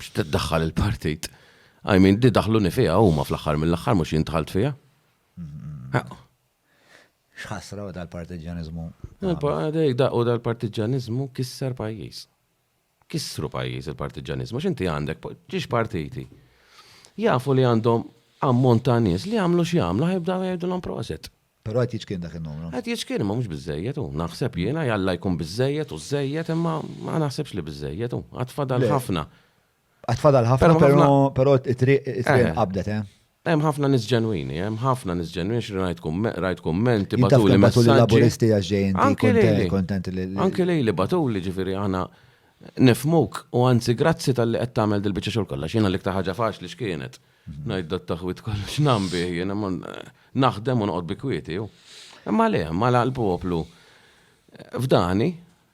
X'tiddaħħal il-partit? I mean, di daħluni fiha huma fl-aħħar mill-aħħar mhux jien dħalt fiha. X'ħasra u dal-partiġġaniżmu. U dal-partiġġaniżmu kisser pajjiż. Kissru pajjiż il-partiġġaniżmu x'inti għandek ġiex partiti. Jafu li għandhom ammont ta' nies li jagħmlu x'jagħmlu ħajbdaw jgħidulhom proset. Pero għat jiċkien dak il-numru. Għat jiċkien, ma mux bizzejiet, u naħseb jena jalla jkun bizzejiet u zzejiet, imma ma naħsebx li bizzejiet, u għat fadal ħafna. Għat fadal ħafna, pero, pero it-triq eh. qabdet, eh? Hemm ħafna nis ġenwini, hemm ħafna nis ġenwini xi rajt rajt kumment ibatu li messaġġi. Laburisti għax kontenti li. Anke lej li batu li ġifieri aħna nifmuk u anzi grazzi tal-li qed tagħmel dil-biċċa xogħol kollha x'jiena l-iktar ħaġa faċli x'kienet. Ngħid dat taħwit kollu x'nam bih jien naħdem u noqgħod bi kwieti. Imma le, ma l-poplu f'dani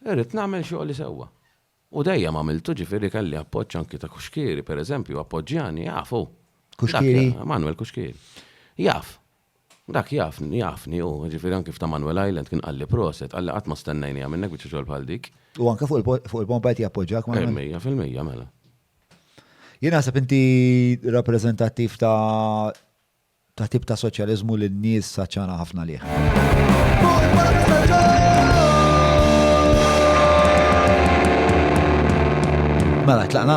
irrid nagħmel xogħli sewwa. U dejjem għamiltu ġifieri kelli appoġġ anki ta' Kuxkieri pereżempju appoġġjani jafu. Kuxkieri? Manuel Kuxkieri. Jaf. Dak jafni, jafni hu, jiġifieri anki f'Ta' Manuel Island kien qalli proset, qalli qatt ma stennejniha minnek biċċa xogħol bħal dik. U anke fuq il-po, fuq il-pompa qed jappoġġjak ma' Emmett? Mija fil-mija, mela. Jien naħseb inti rappreżentattiv ta' ta' tip ta' soċjaliżmu li n-nies għatxana ħafna għalih. Mela, tlaqna?